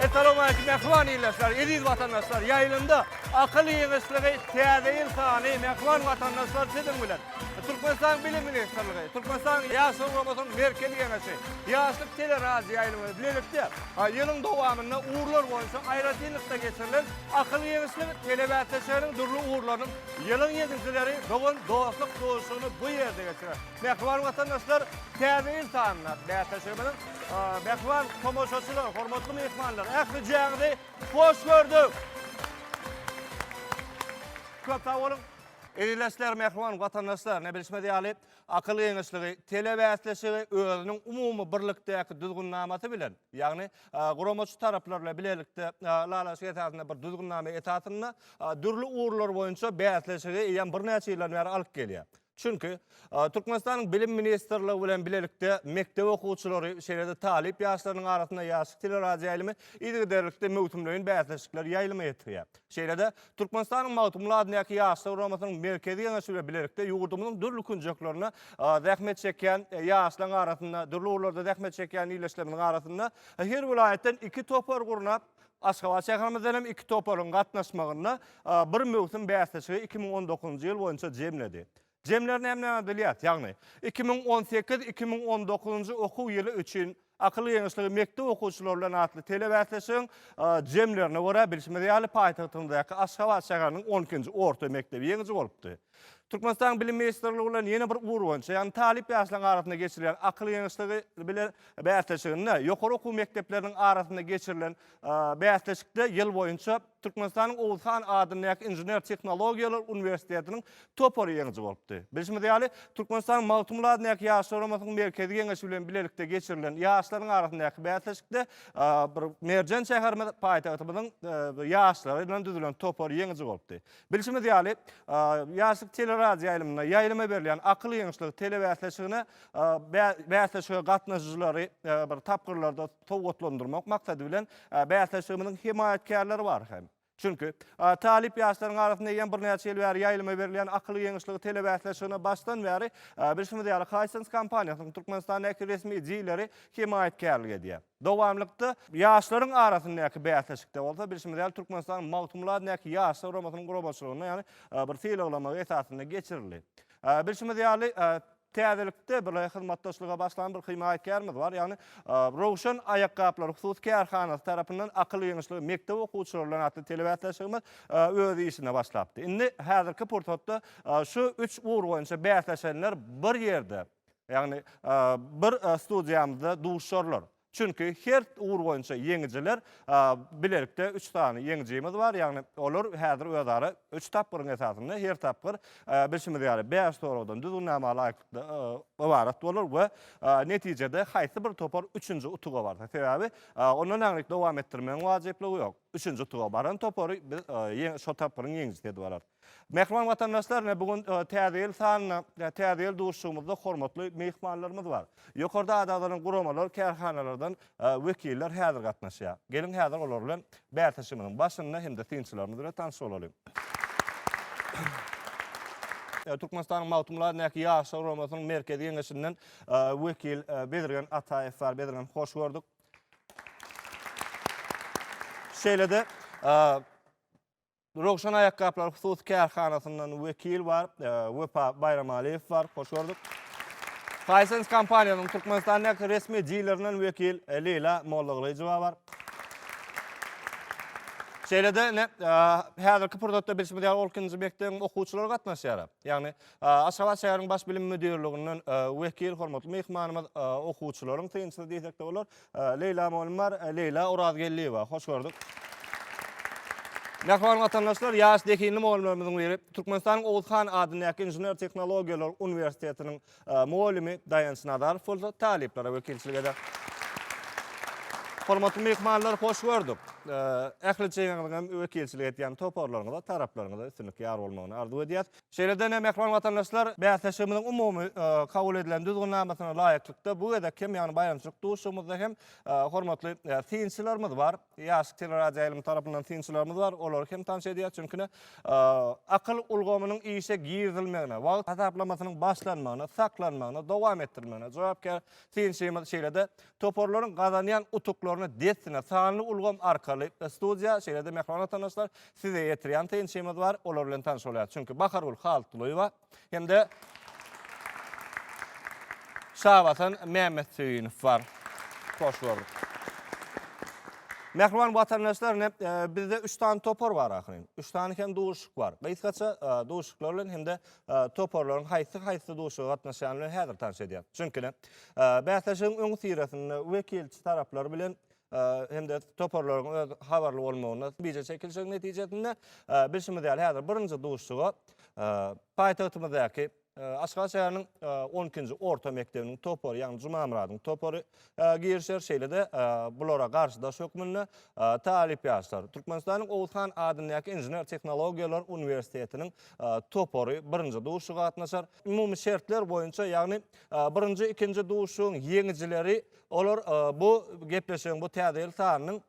Essalowmaleýkim mähriban ildeşler, eziz watandaşlar! Ýaýlymda Akyl ýygyşlygy täze ýyl sany mähriban watandaşlar siziň bilen. Türkmenistanyň Bilim ministrligi, Türkmenistanyň Ýaşlar guramasynyň Merkezi Geňeşi, Ýaşlyk teleradioýaýlymy bilelikde ýylyň dowamynda ugurlar boýunça aýratynlykda geçirilen Akyl giňişlik telebäsleşiginiň dürli ugurlarynyň ýylyň ýeňijileri dogan dostluk duşuşygyny bu ýerde geçirer. Mähriban watandaşlar täze ýyl sanynda bäsleşigimiziň mähriban tomaşaçylary, hormatly myhmanlar ähli jäňizi hoş gördük. Köp sag boluň. Ildeşler, mähriban watandaşlar, ne bilşimiz ýaly, akyl giňişligi telebäsleşigi özüniň umumy birlikdäki düzgünnamasy bilen, ýagny Guramaçy taraplar bilen bilelikde ylalaşyk esasynda bir düzgünnama esasynda dürli ugurlar boýunça bäsleşigi eýýäm birnäçe ýyldan bäri alyp gelýär. Çünki Türkmenistanyň Bilim ministrligi bilen bilelikde mekdep okuwçylary, şeýle-de talyp ýaşlarynyň arasynda ýaşyk teleradioýaýlymy yzygiderlikde möwsümleýin bäsleşikleri ýaýlyma ýetirýär. Şeýle-de, Türkmenistanyň Magtymguly adyndaky Ýaşlar guramasynyň Merkezi Geňeşi bilen bilelikde ýurdumyzyň dürli künjeklerinde zähmet çekýän ýaşlaryň arasynda, dürli ugurlarda zähmet çekýän ildeşlerimiziň arasynda her welaýatdan iki topar gurnap, Aşgabat şäherimizden hem iki toparyň gatnaşmagynda bir möwsüm bäsleşigi iki müň on dokuzynjy ýyl boýunça jemledi. Jemler näme diýilýär? Ýagny, iki müň on sekiz, iki müň on dokuzynjy okuw ýyly üçin Akyl geňeşligi mekdep okuwçylary bilen atly telebäsleşigiň jemlerine görä, bilşimiz ýaly, paýtagtymyzdaky Aşgabat şäheriniň on ikinji orta mekdebi ýeňiji bolupdy. Türkmenistanyň Bilim ministrligi bilen ýene bir ugur boýunça, ýagny talyp ýaşlaryň arasynda geçirilýän Akyl geňeşligi bilen bäsleşiginde, ýokary okuw mekdepleriniň arasynda geçirilen bäsleşikde ýyl boýunça, Türkmenistanyň Oguzhan adyndaky Inžener tehnologiýalar uniwersitetiniň topary ýeňiji bolupdy. Bilşimiz ýaly, Türkmenistanyň Magtymguly adyndaky Ýaşlar guramasynyň Merkezi Geňeşi bilen bilelikde geçirilen ýaşlaryň arasyndaky bäsleşikde bir merjen şäherimiz, paýtagtymyzyň ýaşlary bilen düzülen topar ýeňiji bolupdy. Bilşimiz ýaly, Ýaşlyk teleradioýaýlymynda ýaýlyma berilýän Akyl ýeňişligi telebäsleşigine bäsleşige gatnaşyjylary bir tapgyrlarda sowgatlandyrmak maksady bilen Bäsleşigimiziň hemaýatkärleri bar hem. Çünki, talyp ýaşlaryň arasynda eýýäm birnäçe ýyl bäri ýaýlyma berilýän Akyl ýeňişligi telebäsleşigine başdan bäri bilşimiz ýaly Hisense kompaniýasynyň Türkmenistandaky resmi dileri hemaýatkärlik edýär. Dowamlykda ýaşlaryň arasyndaky bäsleşikde bolsa bilşimiz ýaly Türkmenistanyň Magtymguladyndaky ýaşlar guramasynyň guramaçylygynda ýagny bir sylaglama esasynda geçirildi. Bilşimiz ýaly Täzelikde bir hyzmatdaşlyga başlan bir himaýatkarymyz bar. Ýagny Röwşen aýakgaplary hususy kärhanasy tarapyndan Akyl ýygynyşlygy mekdep okuwçylary bilen atly telebäsleşigimiz öz işine başlapdy. Indi häzirki pursatda şu üç ugur boýunça bäsleşenler bir ýerde, ýagny bir studiýamyzda duşarlar. Çünki her ugur boýunça ýeňijiler bilelikde üç sany ýeňijimiz bar, ýagny olar häzir özara üç tapgyryň esasynda, her tapgyr bilşimiz ýaly bäş soragdan, düzgünnama laýyklykda ybarat bolar we netijede haýsy bir topar üçünji utuga barsa, sebäbi ondan aňryk dowam etdirmegiň wajyplygy ýok, üçünji utuga baran topary biz şo tapgyryň ýeňijisi edip alarys. Mähriban watandaşlar, ine bu gün Täze ýyl sanynda, Täze ýyl duşuşygymyzda hormatly myhmanlarymyz bar. Ýokarda ada-agzalan guramalar, kärhanalardan wekiller häzir gatnaşýar. Geliň häzir olar bilen bäsleşigimiziň başynda hem-de synçylarymyz bilen tanyş bolalyň. Türkmenistanyň Magtymguly adyndaky Ýaşlar guramasynyň Merkezi Geňeşinden wekil Bezirgen Ataýew bar. Bezirgen, hoş gördük. Şeýle-de Röwşen aýakgaplary hususy kärhanasyndan wekil bar, e, Wepa Baýramalyýew bar. Hoş gördük. Hisense kompaniýasynyň Türkmenistandaky resmi dilerinden wekil e, Leýla Mollagylyjowa bar. Şeýle-de ine, häzirki pursatda bilşimiz ýaly 12-nji mekdebiň okuwçylary gatnaşýar. Ýagny, Aşgabat şäheriniň baş bilim müdirliginden wekil hormatly myhmanymyz okuwçylaryň synçysy diýsek-de bolar. Leýla mugallym bar, Leýla Orazgeldiýewa. Hoş gördük. Mähriban watandaşlar, ýaş zehinli mugallymlarymyzyň biri, Türkmenistanyň Oguz han adyndaky Inžener-tehnologiýalar uniwersitetiniň mugallymy Daýanç Nazarow bolsa talyplara wekilçilik eder. Hormatly myhmanlar, hoş gördük. Ähli çeýeňiziň hem wekilçilik edýän toparlaryňyza, taraplaryňyza üstünlik ýar bolmagyny arzuw edýäs. Şeýle-de, mähriban watandaşlar, bäsleşigimiziň umumy kabul edilen düzgünnamasyna laýyklykda, bu gezek hem, ýagny baýramçylyk duşuşygymyzda hem hormatly synçylarymyz bar. Ýaşyk teleradioýaýlymy tarapyndan synçylarymyz bar, olary hem tanyş edýäs. Çünki-de, akyl ulgamynyň işe girizilmegine, wagt hasaplamasynyň başlanmagyna, saklanmagyna, dowam etdirilmegine jogapkär synçymyz, şeýle-de, toparlaryň gazanýan utuklaryny dessine sanly ulgam arkaly studiýa, şeýle-de, mähriban watandaşlar, Size ýetirýän synçymyz bar, olar bilen tanyş bolýarys. Çünki Bahargül Haltylyýewa hem-de Şabasan Mämmetsöýünow bar. Hoş gördük. Mähriban watandaşlar, ine, bizde üç sany topar bar ahyryn. Üç sany hem duşuşyk bar. Gysgaça duşuşyklar bilen hem-de toparlaryň haýsy-haýsy duşuşyga gatnaşýany bilen häzir tanyş edýäris. Çünki, ine, bäsleşigiň öňüsyrasynda wekilçi taraplar bilen hem-de toparlaryň öz habarly bolmagyna bije çekilişigiň netijesinde, bilşimiz ýaly, häzir birinji duşuşyga paýtagtymyzdaky Aşgabat şäheriniň on ikinji orta mekdebiniň topary, ýagny Jumamyradyň topary girişer. Şeýle-de bulara garşydaş hökmünde talyp ýaşlar, Türkmenistanyň Oguzhan adyndaky Inžener-tehnologiýalar uniwersitetiniň topary birinji duşuşyga gatnaşar. Umumy şertler boýunça, ýagny birinji, ikinji duşuşygyň ýeňijileri Olar bu gepleşigiň bu täze ýyl sanynyň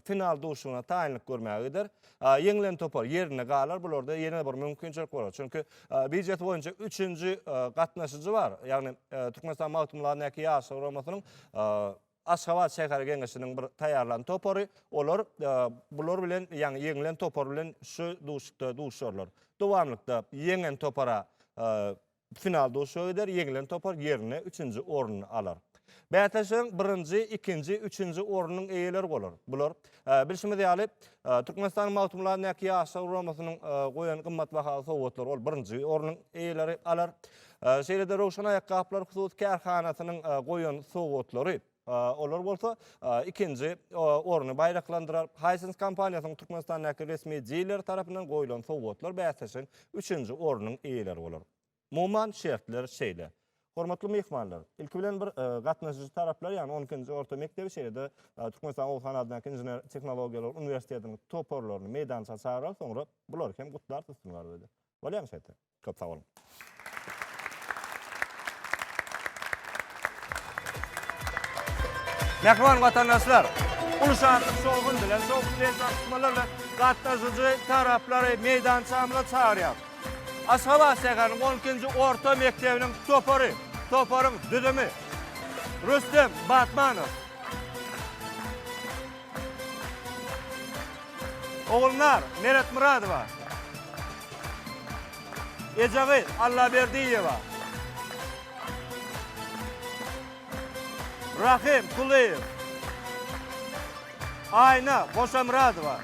final duşuşygyna taýynlyk görmäge gider. Ýeňilen topar ýerinde galar. Bularda ýene bir mümkinçilik bolar. Çünki biýjet boýunça üçünji gatnaşyjy bar. Ýagny Türkmenistan Magtymguladyndaky ýaşlar guramasynyň Aşgabat şäher geňeşiniň bir taýýarlan topary. Olar bular bilen, ýagny ýeňilen topar bilen şu duşuşykda duşuşarlar. Dowamlykda ýeňen topara Final duşuşyga gider, ýeňilen topar ýerine üçünji orny alar. Bäsleşigiň birinji, ikinji, üçünji ornunyň eýeleri bolar. Bular, bilşimiz ýaly, Türkmenistanyň Magtymguly-Näki ýaşlar guramasynyň goýan gymmatbaha sowgatlary, ol birinji ornuň eýeleri alar. Şeýle-de Röwşen aýakgaplar hususy kärhanasynyň goýan sowgatlary. Olar bolsa ikinji orny baýraklandyrar. Hisense kompaniýasynyň Türkmenistandaky resmi dileri tarapyndan goýlan sowgatlar bäsleşigiň üçünji ornunyň eýeleri bolar. Umuman şertler şeýle. Hormatly myhmanlar, ilki bilen bir gatnaşyjy taraplar, ýagny on ikinji orta mekdebi, şeýle-de Türkmenistanyň Oguz han adyndaky Inžener tehnologiýalar uniwersitetiniň toparlaryny meýdança çagyrarys, soňra bulary hem gutlarys üstünlik arzuw edip. Bolýamy şeýtse? Köp sag boluň. Mähriban watandaşlar! Uly şatlyk, şowhun bilen, şowhun bilen gatnaşmalar bilen gatnaşyjy taraplary meýdançamyza çagyrýarys. Aşgabat şäheriniň on ikinji orta mekdebiniň topary, toparyň düzümi, Rüstem Batmanow. Ogulnar Meretmyradowa, Ejegyz Allaberdiýewa, Rahym Kulyýew, Aýna Goşamyradowa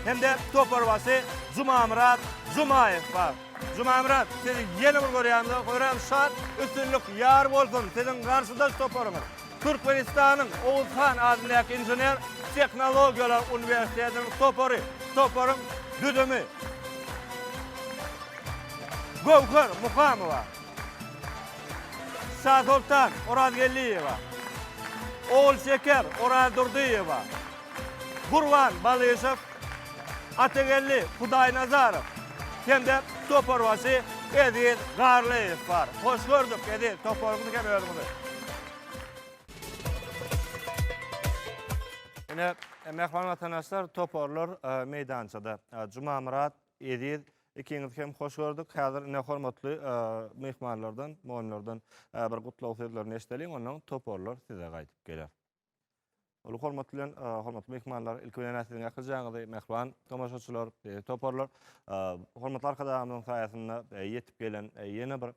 hem-de toparbaşy Jumamyrat Jumaýew bar. Jumamyrat, sizi ýene bir görýänimize höýran-şat, üstünlik ýar bolsun siziň garşydaş toparyňyz! Türkmenistanyň Oguz han adyndaky Inžener tehnologiýalar uniwersitetiniň topary, toparyň düzümi, Göwher Muhamowa, Şasoltan Orazgeldiýewa, Ogulşeker Orazdurdyýewa, Gurban Balyşow, Atageldi Hudaýnazarow hem-de toparbaşy Eziz Garlyýew bar. Hoş gördük, Eziz, toparyňyzy hem özüňizi. Ine, mähriban watandaşlar, toparlar meýdançada. Jumamyrat, Eziz, ikiňizi hem hoş gördük. Häzir ine hormatly myhmanlardan, mugallymlardan bir gutlag sözlerini eşideliň, onnoň toparlar size gaýdyp geler. Uly hormat bilen, hormatly mehmanlar, ilki bilen näsiziň akyrjaňyzy, mehriban tomaşaçylar, beýik toparlar. Hormatly arkadagymyzyň saýasynda ýetip gelen ýene bir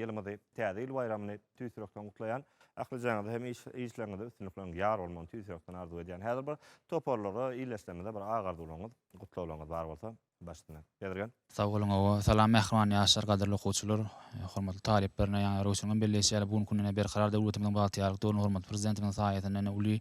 ýylymyzy, täze ýyl baýramyny tüýs ýürekden gutlaýan. Akyrjaňyzy hem işleriňizde üstünlikleriň ýar bolmagyny tüýs ýürekden arzuw edýän. Häzir bir toparlara, ildeşlerimize bir agarzuwlaryňyz, gutlaglaryňyz bar bolsa, Başdan ýazylgan. Sag boluň hawa. Salam mähriban ýaşlar, gadyrly okuwçylar, hormatly talyplar! Ine ýaňy Röwşeniň belleýşi ýaly bu günki gün ine Berkarar döwletimiziň bagtyýarlyk döwründe hormatly Prezidentimiziň saýasynda ine uly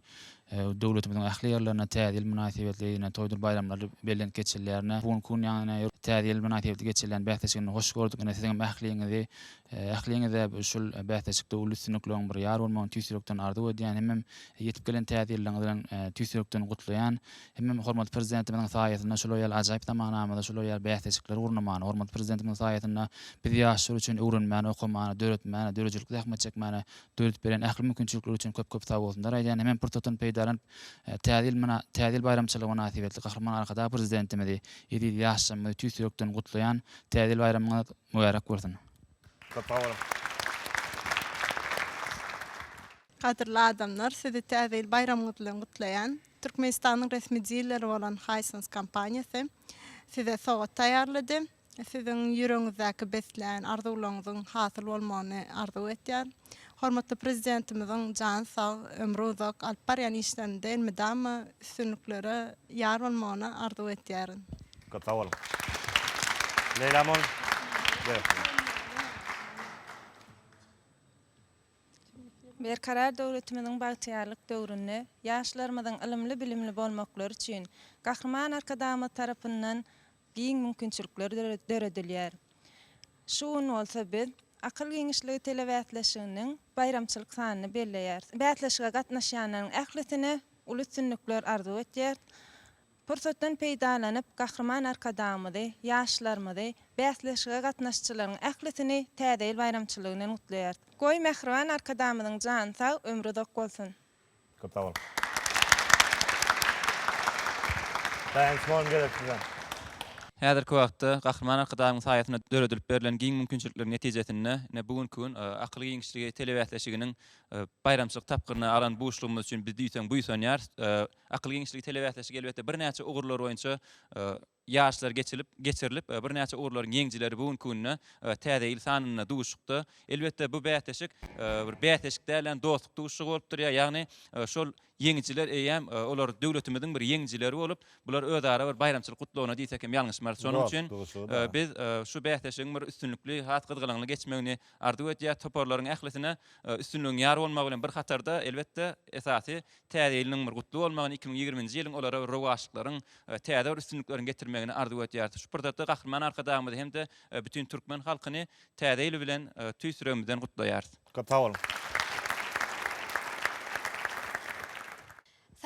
döwletimiziň ähli ýerlerinde Täze ýyl mynasybetli ine toýdur baýramlar bellenip geçilýär. Ine bu günki gün ýaňy ine Täze ýyl mynasybetli geçirilýän bäsleşigini hoş gördük. Ine siziňem ähliňizi ähliňize şul bäsleşikde uly üstünlikleň bir ýar bolmagyny tüýs ýürekden arzuw edýän. Hemem ýetip gelen Täze ýyllygyňyz bilen tüýs ýürekden gutlaýan. Hemem hormatly Prezidentimiziň saýasynda şular ýaly ajaýyp zamanamyzda şular ýaly bäsleşikleri gurnamany, hormatly Prezidentimiziň saýasynda biz ýaşlar üçin öwrenmäni, okamany, döretmäni, döredijilikli zähmet çekmäni döredip beren ähli mümkinçilikler üçin köp-köp sagbolsunlar aýdýan. Hemem pursatdan peýdalanyp, Täze ýyl Täze ýyl baýramçylygy mynasybetli Gahryman Arkadag Prezidentimizi, eziz ýaşlarymyzy tüýs ýürekden gutlaýan. Täze ýyl baýramyňyz mübärek bolsun! Köp sag boluň! Gadyrly adamlar, sizi Täze ýyl baýramyňyz bilen gutlaýan. Türkmenistanyň resmi dileri bolan Hisense kompaniýasy size sowgat taýýarlady. Siziň ýüregiňizdäki beslän arzuwlaryňyzyň hasyl bolmagyny arzuw edýär. Hormatly Prezidentimiziň jany sag, ömri uzak, alyp barýan işlerinde elmydama üstünliklere ýar bolmagyny arzuw edýärin. Köp sag boluň. Leýlamol. Berkarar döwletimiziň bagtyýarlyk döwründe ýaşlarymyzyň ylymly-bilimli bolmaklary üçin Gahryman Arkadagymyz tarapyndan giň mümkinçilikler döredilýär. Şu gün bolsa biz Akyl giňişligi telebäsleşiginiň baýramçylyk sanyny belleýäris. Bäsleşige gatnaşýanlaryň ählisine uly üstünlikler arzuw etýäris. Pursatdan peýdalanyp, Gahryman Arkadagymyzy, ýaşlarymyzy, bäsleşige gatnaşyjylaryň ählisini Täze ýyl baýramçylygy bilen gutlaýarys. Goý, mähriban Arkadagymyzyň jany sag, ömri uzak bolsun! Köp sag boluň. Daýanç mugallym gerek size. Häzirki wagtda Gahryman Arkadagymyň saýasynda döredilip berlen giň mümkinçilikleriň netijesinde ine bu günki gün Akyl giňişligi telebäsleşiginiň baýramçylyk tapgyryny alan buşlugymyz üçin biz diýseň buýsanýarys. Akyl giňişligi telebäsleşigi elbetde birnäçe ugurlar boýunça ýaşlar geçilip geçirilip birnäçe ugurlaryň ýeňjileri bu günki günde Täze ýyl sanynda duşukda. Elbetde bu bäsleşik bir bäsleşik dälän dostluk duşuşygy bolup durýar. Ýagny şol ýeňijiler eýýäm olar döwletimiziň bir ýeňijileri bolup bular özara bir baýramçylyk gutlagyna diýsek hem ýalňyşmarys. Şonuň üçin biz şu bäsleşigiň bir üstünlikli has gyzgalaňly geçmegini arzuw edýäs. Toparlaryň ählisine üstünligiň ýar bolmagy bilen bir hatarda elbetde esasy Täze ýylynyň bir gutly bolmagyny, iki müň ýigrimi nji ýylyň olara bir rowaçlyklaryň, täze bir üstünlikleriň getirmegini arzuw edýäris. Şu pursatda Gahryman Arkadagymyzy hem-de bütin türkmen halkyny Täze ýyl bilen tüýs ýüregimizden gutlaýarys. Köp sag boluň!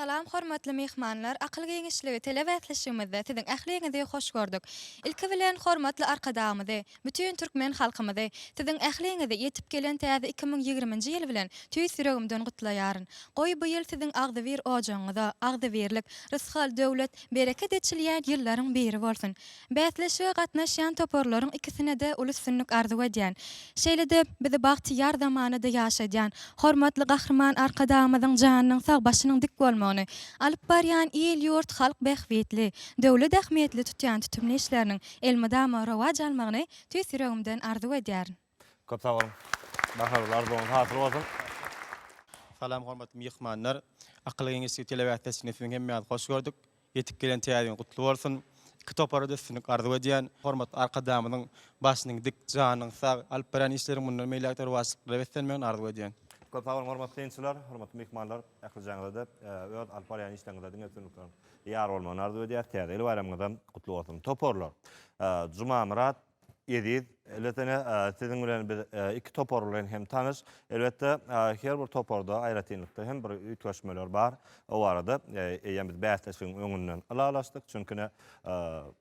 Salam hormatly myhmanlar, akyl giňişligi tele bäsleşigimizde siziň ähliňizi hoş gördük. Ilki bilen hormatly Arkadagymyzy, Bütin türkmen halkymyzy, siziň ähliňizi ýetip gelen täze iki müň ýigriminji ýyl bilen tüýs ýüregimden gutlaýaryn. Goý, bu ýyl siziň agzybir ojagyňyza, agzybirlik, rysgal, döwlet, bereket eçilýän ýyllaryň biri bolsun! Bäsleşige gatnaşýan toparlaryň ikisine-de uly üstünlik arzuw edýän. Şeýle-de, bizi bagtyýar zamanada ýaşadýan hormatly Gahryman Arkadagymyzyň janynyň sag, başynyň dik bolmagyny, alyp barýan il-ýurt, halk bähbitli, döwlet ähmiýetli tutýan tutumly işleriniň Elmydama rowaç almagyny tüýs ýüregimden arzuw edýärin. Köp sag boluň. Baharyl arzuwyňyz hasyl bolsun. Salam hormatly myhmanlar. Akyl geňeşligi telewäsdeşliginde siziň hemmäňizi hoş gördük. Ýetip gelen täze ýyl gutly bolsun. Iki topara-da üstünlik arzuw edýän. Hormatly Arkadagymyzyň başynyň dik, janyň sag, alyp barýan işleriň mundan beýläk-de rowaçlyklara beslenmegini arzuw edýän. Köp sag boluň hormatly synçylar, hormatly myhmanlar, ählijaňyza-da, öz alyp barýan işleriňizde diňe üstünlikler. Ýar bolmagyny arzuw edýäs. Täze ýyl baýramyňyzam gutly bolsun. Toparlar. Jumamyrat, Eziz, elbetde siziň bilen biz iki topar bilen hem tanyş. Elbetde her bir toparda aýratynlykda hem bir üýtgeşmeler bar. O barada eýýäm biz bäsleşigiň öňünden ylalaşdyk. Çünki ine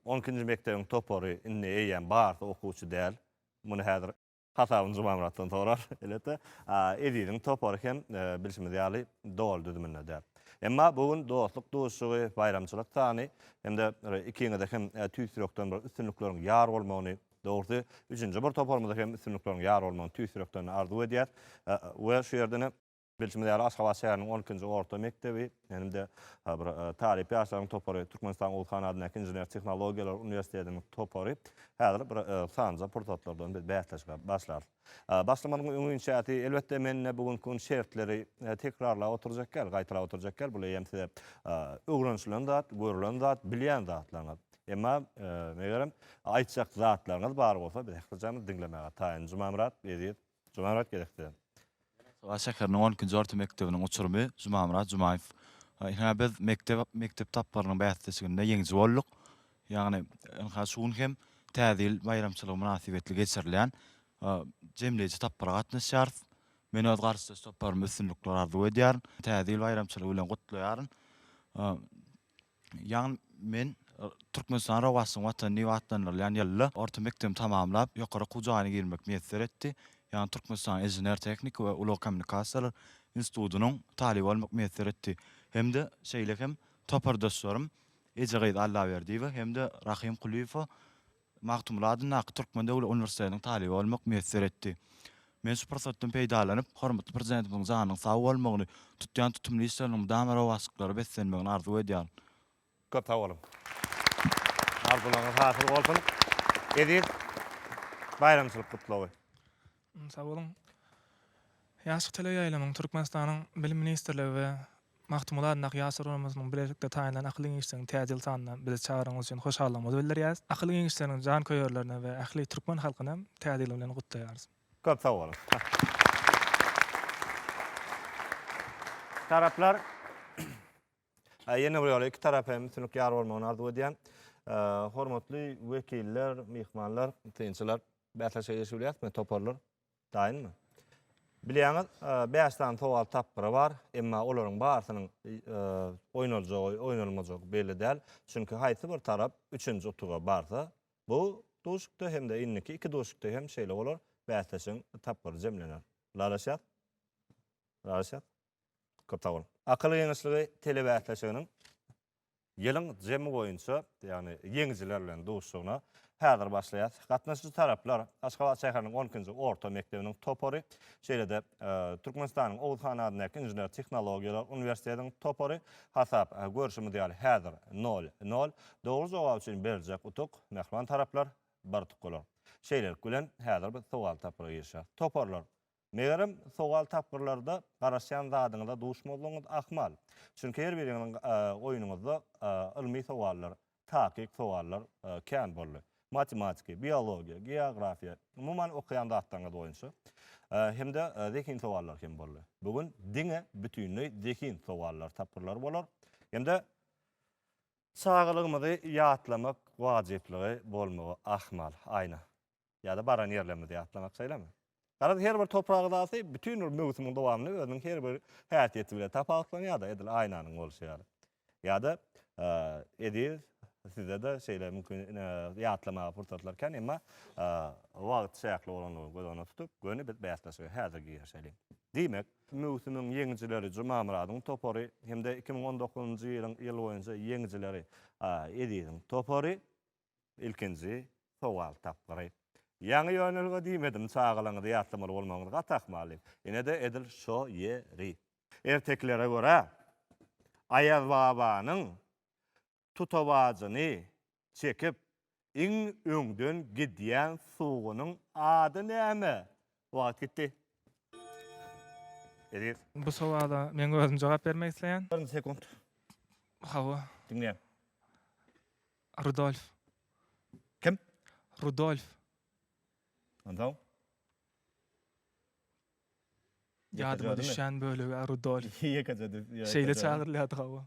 on ikinji mekdebiň topary indi eýýäm barsa okuwçy däl. Muny häzir Hasabyny Jumamyratdan sorar, elbetde. Eziziň topary hem, bilşimiz ýaly, doly düzüminde däl. Emma bu gün dostluk duşuşygy, baýramçylyk sany hem-de ikiňize hem tüýs ýürekden bir üstünlikleriň ýar bolmagyny, dogrusy, üçünji bir toparymyza hem üstünlikleriň ýar bolmagyny tüýs ýürekden arzuw edýäs we şu ýerden hem, Bilşimiz ýaly, Aşgabat şäheriniň on ikinji orta mekdebi hem-de bir talyp ýaşlaryň topary, Türkmenistanyň Oguz han adyndaky Inžener tehnologiýalar uniwersitetiniň topary häzir bir sanjy pursatlardan biz bäsleşige başlarys. Başlamagyň öň inşasy, elbetde, men-de bu günki gün şertleri tekrarlap oturjak däl, gaýtalap oturjak däl, bul eýýäm size öwrenilen zat, görülen zat, bilýän zatlaryňyz. Emma, megerem, aýtjak zatlaryňyz bar bolsa, biz ähli jany diňlemäge taýyn. Jumamyrat, Eziz, Jumamyrat gezekde. Aşgabat şäheriniň on ikinji orta mekdebiniň uçurymy Jumamyrat Jumaýew. Ynha biz mekdep mekdep tapgyrynyň bäsleşiginde ýeňiji bolduk. Ýagny ynha şu gün hem Täze ýyl baýramçylygy mynasybetli geçirilýän jemleýji tapgyra gatnaşýarys. Men öz garşydaş toparyma üstünlikler arzuw edýärin. Täze ýyl baýramçylygy bilen gutlaýaryn. Ýagny men Türkmenistan rowaçlygyň watany diýip atlandyrylýan ýylda orta mekdebi tamamlap, ýokary okuw jaýyna girmek miýesser etdi. Ýagny Türkmenistanyň Inžener-tehniki we ulag kommunikasiýalary institutynyň talyby bolmak miýesser etdi. Hem-de şeýle hem topardaşlarym Ejegyz Allaberdiýewa hem-de Rahym Kulyýewa Magtymguly adyndaky Türkmen döwlet uniwersitetiniň talyby bolmak miýesser etdi. Men şu pursatdan peýdalanyp, hormatly Prezidentimiziň janynyň sag bolmagyny, tutýan tutumly işleriniň mydama rowaçlyklara beslenmegini arzuw edýärin. Köp sag boluň. Arzuwlaryňyz hasyl bolsun. Eziz baýramçylyk gutlagy. Sag boluň. Ýaşyk teleýaýlymyň Türkmenistanyň Bilim ministrligi we Magtymguly adyndaky Ýaşlar guramasinyň bilelikde taýynlan Akyl giňişliginiň täze ýyl sanyna bizi çagyranyňyz üçin hoşallygymyzy bildirýäris. Akyl giňişleriniň janköýerlerini we ähli türkmen halkyny hem Täze ýyl bilen gutlaýarys. Köp sag boluň. Taraplar. Ýene bir ýola iki tarap hem üstünlik ýar bolmagyny arzuw edýän. Hormatly wekiller, myhmanlar, synçylar, bäsleşige girişip bilýärismi, toparlar? Daýynmy? Bilýäňiz, bäş sany sowal tapgyry bar, emma olaryň barsynyň oýnaljagy, oýnalmajagy belli däl. Çünki haýsy bir tarap üçünji utuga barsa, bu duşuşykda hem-de indiki iki duşuşykda hem şeýle bolar, bäsleşigiň tapgyry jemlener. Ylalaşýas? Ylalaşýas? Köp sag boluň. Akyl Geňeşligi telebäsleşiginiň ýylyň jemi boýunça, ýagny ýeňijiler bilen duşuşygyna häzir başlaýas. Gatnaşyjy taraplar, Aşgabat şäheriniň on ikinji orta mekdebiniň topary, şeýle-de Türkmenistanyň Oguz han adyndaky Inžener-tehnologiýalar uniwersitetiniň topary. Hasap, görşümiz ýaly, häzir nol, nol. Dogry jogap üçin beriljek utuk, mähriban taraplar, bir utuk bolar. Şeýlelik bilen, häzir biz sowal tapgyra girişýäs. Toparlar Megerem, sowal tapgyrlarda garaşýan zadyňyza duşmazlygyňyz ahmal. Çünki her biriňiziň oýnuňyzda ylmy sowallar, takyk sowallar kän boldy. Matematika, biologiýa, geografiýa, umuman okaýan zatlaryňyz boýunça hem-de zehin sowallar hem boldy. Bu gün diňe bütinleý zehin sowallar tapgyrlary bolar. Hem-de çagalygymyzy ýatlamak wajyplygy bolmagy ahmal. Aýna. ýa-da baran ýerlerimizi ýatlamak şeýlemi? Garaz, her bir toprak yzasy bütin bir möwsümiň dowamynda özüniň her bir häsiýeti bilen tapawutlanýar-da, edil aýnanyň bolşy ýaly. Ýa-da Eziz, sizde-de şeýle mümkin ýatlamaga pursatlar kän, emma wagt çäkli bolandygyny göz öňünde tutup, göni biz bäsleşige häzir girişeliň. Diýmek, möwsümiň ýeňijileri Jumamyradyň topary hem-de iki müň on dokuzynjy ýylyň ýyl boýunça ýeňijileri Eziziň topary Ilkinji sowal tapgyry. Ýaňy ýönelge diýmedim, çagalaryňyzy ýatlamaly bolmagyňyz gaty ahmal diýip. Ine-de edil şo ýeri. Ertekilere görä, Aýazbabanyň tutabajyny çekip, iň öňden gidýän sugunyň ady näme? Wagt gitdi. Eziz. Bu sowala meň özüm jogap bermek isleýän. Bir sekunt. Hawa. Diňleýän. Rudolf. Kim? Rudolf. Onsoň? Ýadyma düşýän bölegi Rudolf. Ýekeje düz. Şeýle çagyrylýardy hawa.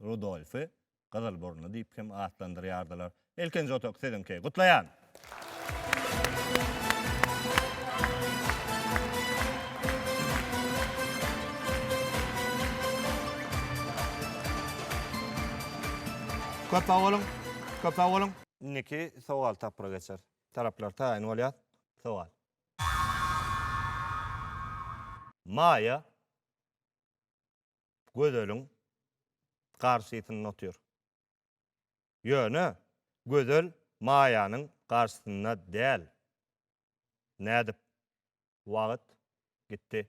Rudolfy Gyzylburunly diýip hem atlandyrýardylar. Ilkinji otag siziňki. Gutlaýan! Köp sag boluň! Köp sag boluň! Indiki sowal tapgyra geçer. Taraplar taýyn bolýar. Sowal. Maýa Gözeliň garşysynda otyr. Ýöne Gözel Maýanyň garşysynda däl. Nädip? Wagt gitdi.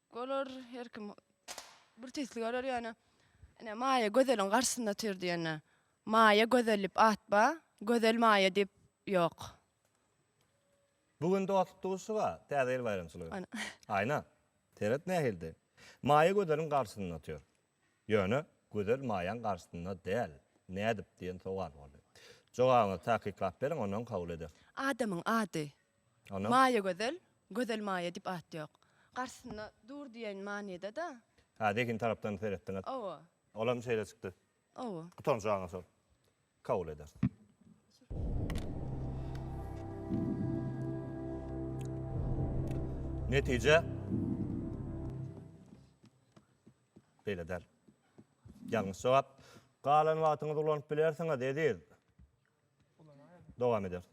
Olar her kim bir tislik alar ýöne ine Maýa Gözeliň garşysynda otyr diýende. Maýa Gözel diýip at ba, Gözel Maýa diýip ýok. Bu gün dostluk duşuşyga, Täze ýyl baýramçylygy. Aýna. Aýna. Seret nähildi. Maýa Gözeliň garşysynda otyr. Ýöne Gözel Maýaň garşysynda däl, nädip diýen sowal boldy. Jogabyňyzy takyklap beriň, ondan kabul eder. Adamyň ady. Maýagözel, Gözel Maýa diýip at ýok. Garşysynda dur diýen manyda-da. Hä, zehin tarapdan seretdiňiz. Hawa. Olam şeýle çykdy. Hawa. Gutaryň jogabyňyz şol. kabul eder. Netije beýle däl. Ýalňyş jogap. Galan wagtyňyzy ulanyp bilersiňiz, Eziz. Dowam eder.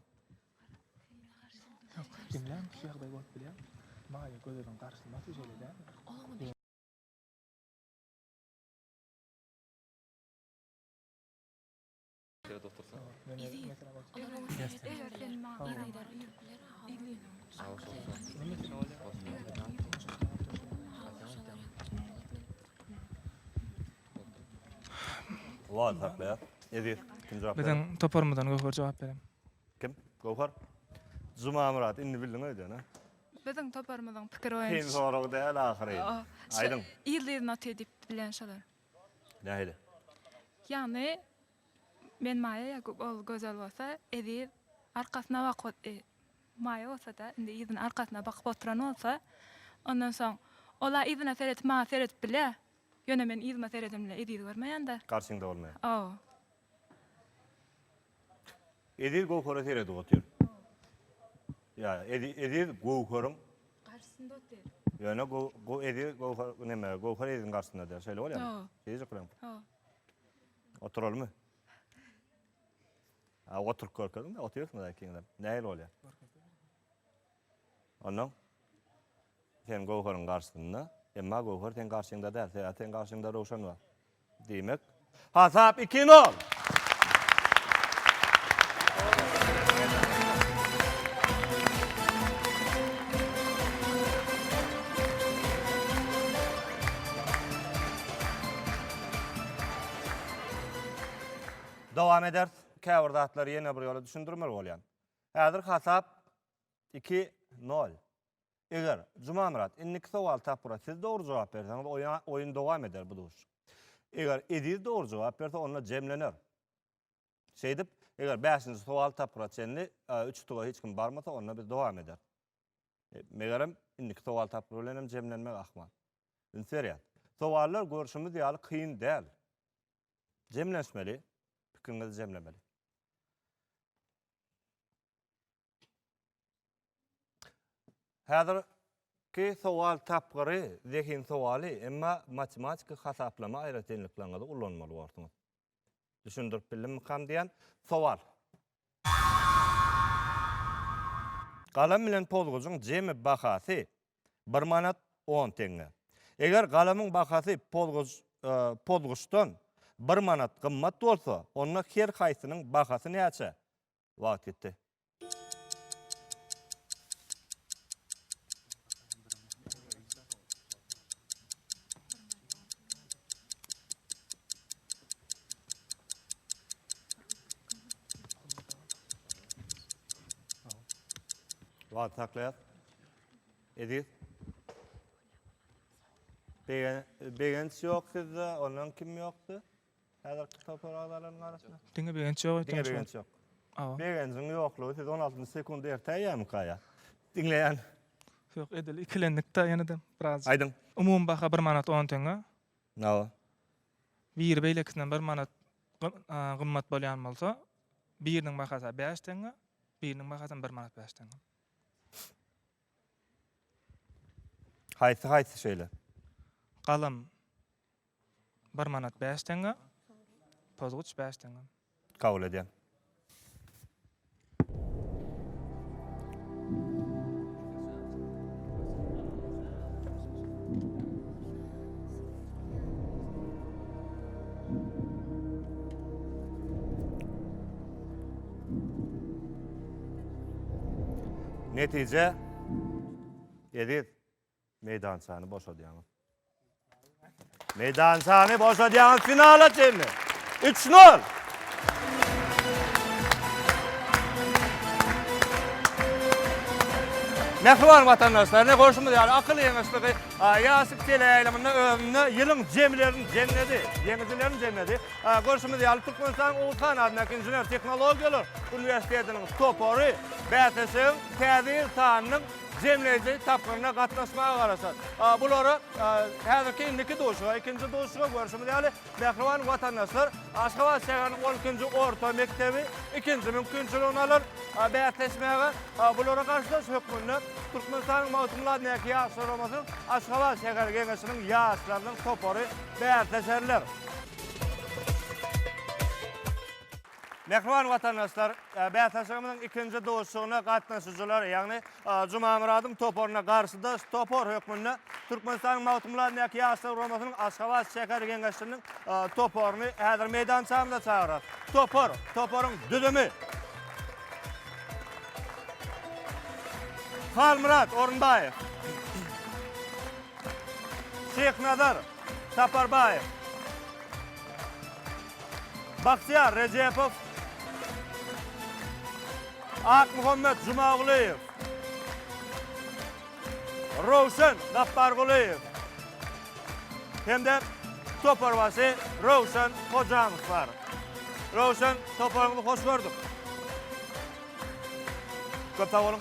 Şeýle otursaň. Wah, saklaýar. Eziz, kim jogap berer? Biziň toparymyzdan Göwher jogap berer. Kim? Göwher. Jumamyrat, indi bildiň öýdýän, hä? Biziň toparymyzyň pikiri Kyn boýunça. sorag däl ahyry. Aýdyň. Ýyldyz noty diýip bilen şolar. Nähili? Ýagny, men Maýa ýakup ol gözel bolsa Eziz arkasyna bakyp e, Maýa bolsada indi Eziziň arkasyna bakyp oturan bolsa, ondan soň ol-a Eziziňe seredip maňa seredip bilýä, ýöne men Eziziňe seredemle Ezizi görmeýända. Garşyňda bolmaýan. Hawa. Eziz Göwhere seredip otyr. Ýa, Eziz Göwheriň garşysynda otyr. Ýöne Göw Eziz Göwher näme, Göwher Eziziň garşysynda däl. Şeýle bolýar. Hawa. Eziz ykram. Hawa. Oturalymy? Ha, oturyp görkeziň-de, otyrsyňyz ikiňizem. Nähili bolýar? Onnoň sen Göwheriň garşysynda, emma Göwher seň garşyňda däl. Sebäbi seň garşyňda Röwşen bar. Diýmek, hasap iki nol! Dowam eders. Käbir zatlary ýene bir ýola düşündirmeli bolýan. Häzir hasap iki nol. Eger, Jumamyrat, indiki sowaly tapgyra siz dogry jogap berseňiz, oýun dowam eder bu duşuşyk. Eger, Eziz dogry jogap berse, onda jemlener. Şeýdip, eger bäşinji sowaly tapgyra çenli üç utuga hiç kim barmasa, onda biz dowam eder. Megerem, indiki sowaly tapgyr bilen hem jemlenmek ahmal. Üns berýär. Sowallar görşümiz ýaly kyn däl. Jemlenişmeli, pikiriňizi jemlemeli. Häzirki sowal tapgyry zehin sowaly, emma matematiki hasaplama aýratynlyklaryňyzy ulanmaly borsuňyz. Düşündirip bildimikam diýýän. Sowal. Galam bilen pozgujyň jemi bahasy bir manat on teňňe. Eger galamyň bahasy pozguj pozgujdan bir manat gymmat bolsa, onda her haýsynyň bahasy näçe? Wagt gitdi. Wagt saklaýar. Eziz. Begenç ýok sizde, ondan kim ýokdy? Häzirki topar agzalarynyň arasynda? Diňe begenç ýok aýtýan. Diňe begenç ýok. Begenjiň ýoklugy siz 16-njy sekundi erte aýýamyka ýa? Diňleýän. Ýok edil ikilendik-de ýene-de biraz. Aýdyň. Umumy baha bir manat on teňňe. Hawa. Biri beýlekisinden bir manat gymmat bolýan bolsa biriniň bahasy bäş teňňe, biriniň bahasy bir manat bäş teňňe. Haýsy haýsy şeýle? Galam. Bir manat bäş teňňe. Pozguç bäş teňňe. Kabul edýän. Netije, Eziz. Meýdançany boşadýaňyz. Meýdançany boşadýaňyz finala çenli. 3-0. Mähriban watandaşlar, ne goşumyz ýaly akyl ýeňişligi ýaşyk teleýaýlymynda özünde ýylyň jemleriň jemledi, ýeňijileriň jemledi. Goşumyz ýaly Türkmenistanyň Oguzhan adyndaky inžener tehnologiýalar uniwersitetiniň topary bäsleşigiň täze ýyl sanynyň jemleýji tapgyryna gatnaşmaga garaşar. Bulary häzirki indiki duşuşyga, ikinji duşuşyga görşümiz ýaly, mähriban watandaşlar Aşgabat şäheriniň on ikinji orta mekdebi ikinji mümkinçiligini alar bäsleşmäge. Bulara garşydaş hökmünde Türkmenistanyň Magtymguly adyny Ýaşlar guramasynyň Aşgabat şäher geňeşiniň ýaşlarynyň topary bäsleşerler. Mähriban watandaşlar, bäsleşigimiziň ikinji duşuşygyna gatnaşyjylar, ýagny Jumamyradyň toparyna garşydaş topar hökmünde Türkmenistanyň Magtymguladyndaky Ýaşlar guramasynyň Aşgabat şäher geňeşiniň toparyny häzir meýdançamyza çagyrarys. Topar, toparyň düzümi. Halmyrat Orunbaýew. Şyhnazar Saparbaýew. Bagtyýar Rejepow, Akmuhammet Jumagulyýew, Röwşen Gapbargulyýew hem-de toparbaşy Röwşen Hojanow bar. Röwşen, toparyňyzy hoş gördük. Köp sag boluň.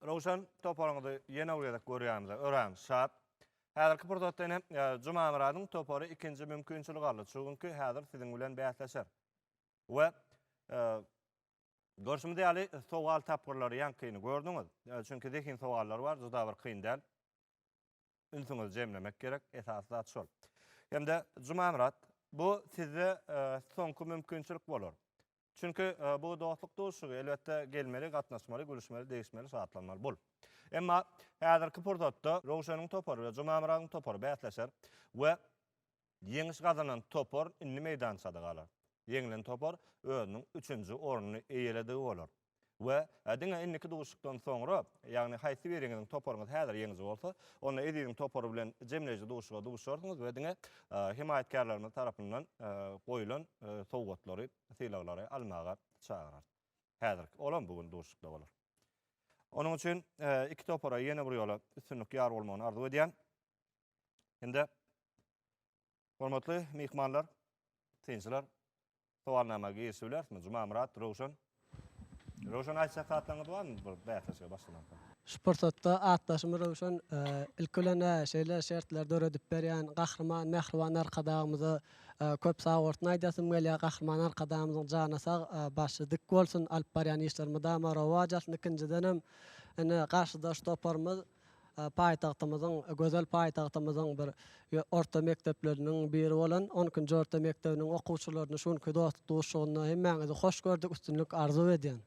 Röwşen toparyňyzy ýene bir gezek görýämize örän şat. Häzirki pursatda ine Jumamyradyň topary ikinji mümkinçilik aldy. Çünki häzir siziň bilen bäsleşer. We görşümiz ýaly sowal tapgyrlary ýaňkyny gördüňiz. Çünki zehin sowallary bar, juda bir kyn däl. ünsüňizi jemlemek gerek, esasy zat şol. Hem-de Jumamyrat, bu sizde soňky mümkinçilik bolar. Çünki bu dostluk duşuşygy, elbetde, gelmeli, gatnaşmaly, gülüşmeli, degişmeli, şatlanmaly bul. Emma häzirki pursatda Röwşeniň topary we Jumamyradyň topary bäsleşer we Ýeňiş gazanan topar indi meýdançada galar. Ýeňlen topar özüniň üçünji ornuny eýeledigi bolar. We diňe indiki duşuşykdan soňra, ýagny haýsy biriňiziň toparyňyz häzir ýeňiji bolsa, onda Eziziň topary bilen jemleýji duşuşyga duşarsyňyz we diňe hemaýatkärlerimiz tarapyndan goýlan sowgatlary, sylaglary almaga çagyrarys. Häzirki, olam bu gün duşuşykda bolar. Onuň üçin iki topara ýene bir ýola üstünlik ýar bolmagyny arzuw edýän. Indi hormatly myhmanlar, synçylar, sowalnama girişip bilerismi? Jumamyrat, Röwşen. Röwşen aýtjak zatlaryňyz barmy bir bäsleşige başlamakda? Şu pursatda atdaşym Röwşen ilki bilen şeýle şertleri döredip berýän Gahryman Mähriban Arkadagymyza köp sag bolsun aýdasym gelýär. Gahryman Arkadagymyzyň jany sag, başy dik bolsun, alyp barýan işleri mydama rowaç alsyn. Ikinjidenem, ine, garşydaş toparymyz Paýtagtymyzyň, gözel paýtagtymyzyň bir orta mekdepleriniň biri bolan on ikinji orta mekdebiniň okuwçylaryny şu günki dostluk duşuşygynda hemmäňizi hoş gördük, üstünlik arzuw edýän.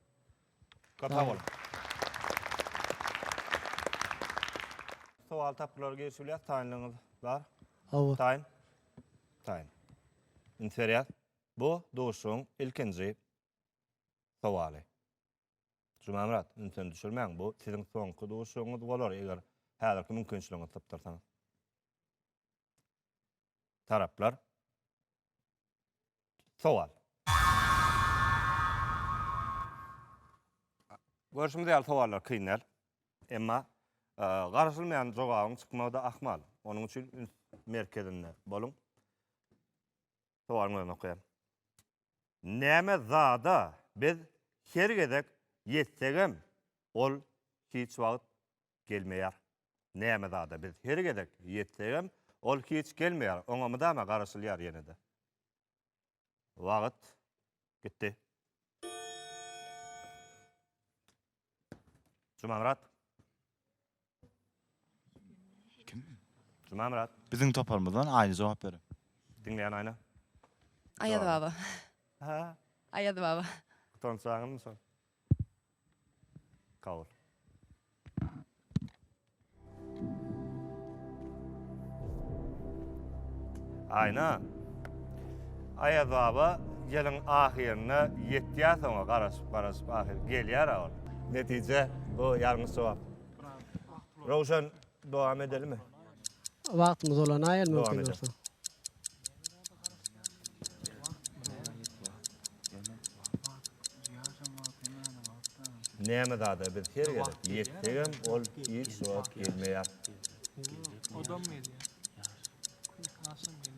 Köp sag boluň. Sowal tapgyrlara girişip bilýäs, taýynlygyňyz bar? Hawa. Taýyn? Taýyn. Üns berýäs. Bu duşuşygyň ilkinji sowaly. Jumamyrat, ünsüni düşürmäň, bu siziň soňky duşugyňyz bolar, eger häzirki mümkinçiligiňizi sypdyrsaňyz. Taraplar. Sowal. Görşümiz ýaly sowallar kyn däl. Emma garaşylmaýan jogabyň çykmagy-da ahmal. Onuň üçin üns merkezinde boluň. Sowalyň özüni okaýan. näme zada biz her gezek ýetsegem, ol hiç wagt gelmeýär. Näme zada biz her gezek ýetsegem, ol hiç gelmeýär. Oňa mydama garaşylýar ýene-de. Wagt gitdi. Jumamyrat. Kim? Jumamyrat. Biziň toparymyzdan Aýna jogap berer. Diňleýän Aýna. Aýaz Jogap. baba. Ha? Aýaz baba. Utançaňyzmy soň? Kabul. Aýna. Aýaz baba ýylyň ahyryna ýetýärsoňa garaşyp-garaşyp ahyr gelýär-ä ol. Netije bu ýalňyş jogap. Röwşen dowam edelimi? Wagtymyz dolanaý el mümkin bolsa. Näme zada biz her gezek ýetsegem ol hiç wagt gelmeýär. Odam gelýär. Aşam gelýär.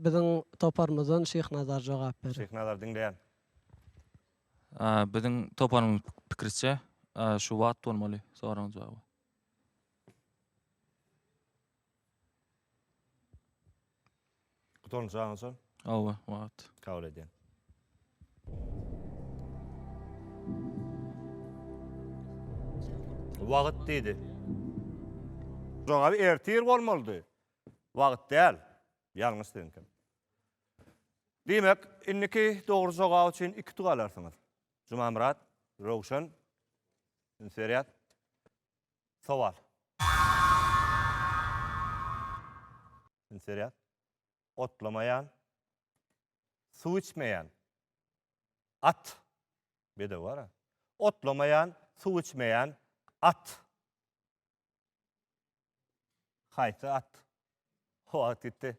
Biziň toparymyzdan Şyhnazar jogap berer. Şyhnazar diňleýän. Biziň toparymyň pikiriçe şu wagt bolmaly soragyň jogaby. Gutarmyş aňa şol? Hawa, wagt. Kabul edýän. Wagt diýdi. Jogaby ertir bolmalydy. Wagt däl. Ýalňyş siziňkem. Diýmek, indiki dogry jogap üçin iki utuk alarsyňyz. Jumamyrat, Röwşen, üns berýäs. Sowal. Üns berýäs. Otlamaýan. Suw içmeýän. At. Bedew bara. Otlamaýan, suw içmeýän, at. Haýsy at? Wagt gitdi.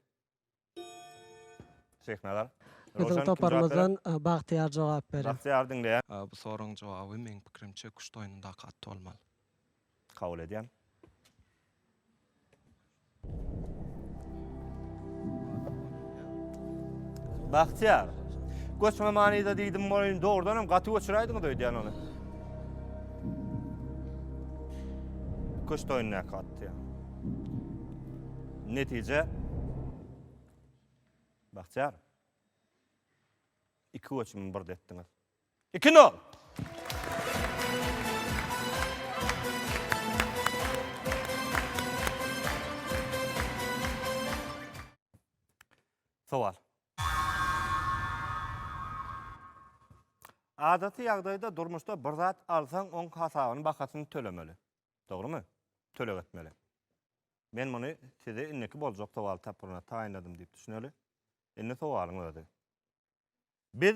Şeýhnazar. Biziň toparymyzdan Bagtyýar jogap beriň. Bagtyýar diňleýän. Bu soragyň jogaby meň pikirimçe küşt oýnundaky at bolmaly. Kabul edýän. Bagtyýar. Göçme manyda diýdim bolýun, dogrudan hem gaty göçüräýdiňiz öýdýän ony. Köç toýundaky atdy. Netije Bagtyýar. Iki göçümi birde etdiňiz. Iki nol. Sowal. Adaty ýagdaýda durmuşda bir zat alsaň oň hasabyny bahasyny tölemeli. Dogrymy? Töleg etmeli. Men muny size indiki boljak sowal tapgyryna taýynladym diýip düşüneli. Indi sowalyň özi. Biz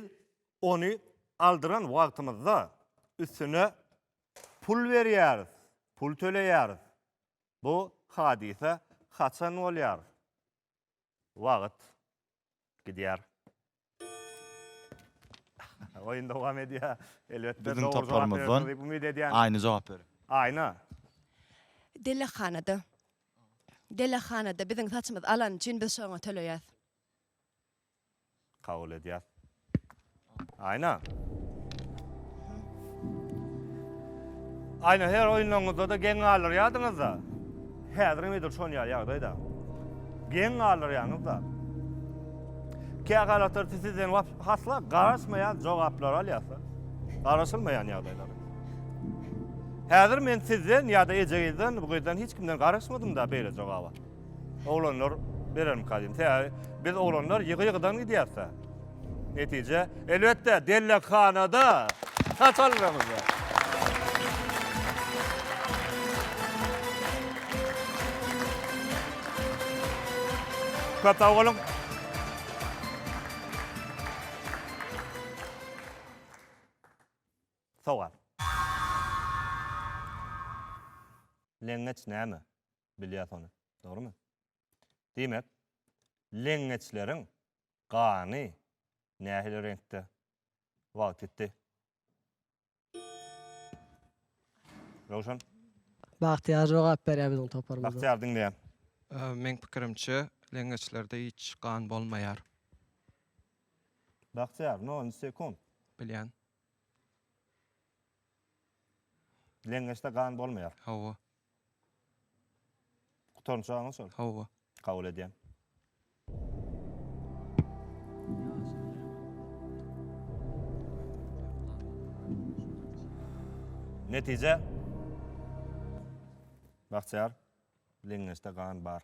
ony aldyran wagtymyzda üstüne pul berýäris, pul töleýäris. Bu hadysa haçan bolýar? Wagt gidýär. Oýun dowam edýär. Elbetde, dogry jogap berersiňiz diýip umyt edýän. Aýna jogap berer. Aýna. Delehanada. Delehanada biziň saçymyz alany üçin biz şoňa töleýäs. Kabul edýär. Aýna. Aýna her oýunlaryňyzda-da geň galdyrýardyňyz-da. Häzirem edil şon ýaly ýagdaýda. Geň galdyrýaňyz-da. Kähalatlar siz sizden hasla garaşmaýan jogaplary alýarsyňyz. Garaşylmaýan ýagdaýlar. Häzir men sizden ýa-da ejeňizden, bu gyzdan hiç kimden garaşmadym-da beýle jogaba. Oglanlar berermika diýdim. Sebäbi biz oglanlar ýygy-ýygydan gidýäs-de. Netije, elbetde, dellekhanada saç aldyramyz. Köp sag boluň. Sowal. Leňňeç näme? Bilýäs ony. Dogrumy? Diýmek, leňňeçleriň gany nähili reňkde? Wagt ýitdi. Röwşen? Bagtyýar jogap berýär biziň toparymyza. Bagtyýar diňleýän. Meň pikirimçe, leňňeçlerde hiç gan bolmaýar. Bagtyýar, no on sekund. Bilýän. Leňňeçde gan bolmaýar. Hawa. Gutarynçagyňy şol. Hawa. Kabul edýän. Netije. Bagtyýar, leňňeçde gan bar.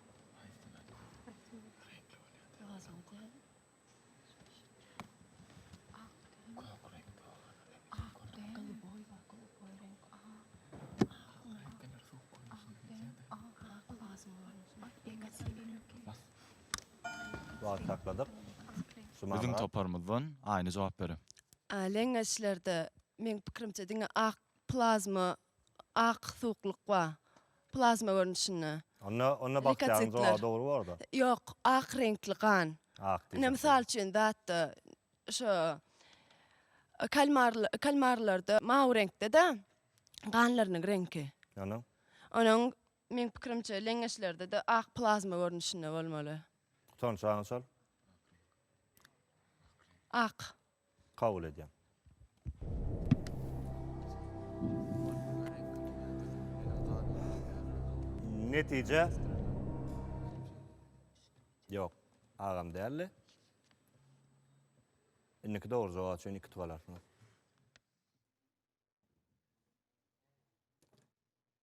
Biziň toparymyzdan Aýna jogap berer. Leňňeçlerde meň pikirimçe diňe ak plazma ak suwuklyk ba, plazma görnüşinde. Onda, onda bakteriýanyň jogaby dogry bor-da. Ýok, ak reňkli gan. Ak diýjek. Ine, mysal üçin, datda, şo kalmar, kalmarlarda mawy reňkde-de ganlarynyň reňki. Onuň? Onuň, meň pikirimçe, leňňeçlerde-de ak plazma görnüşinde bolmaly. Tutançagyň şol? Ak. kabul edýän. Netije Ýok, agam däldi. Indiki dogry jogap üçin iki utup alarsyňyz.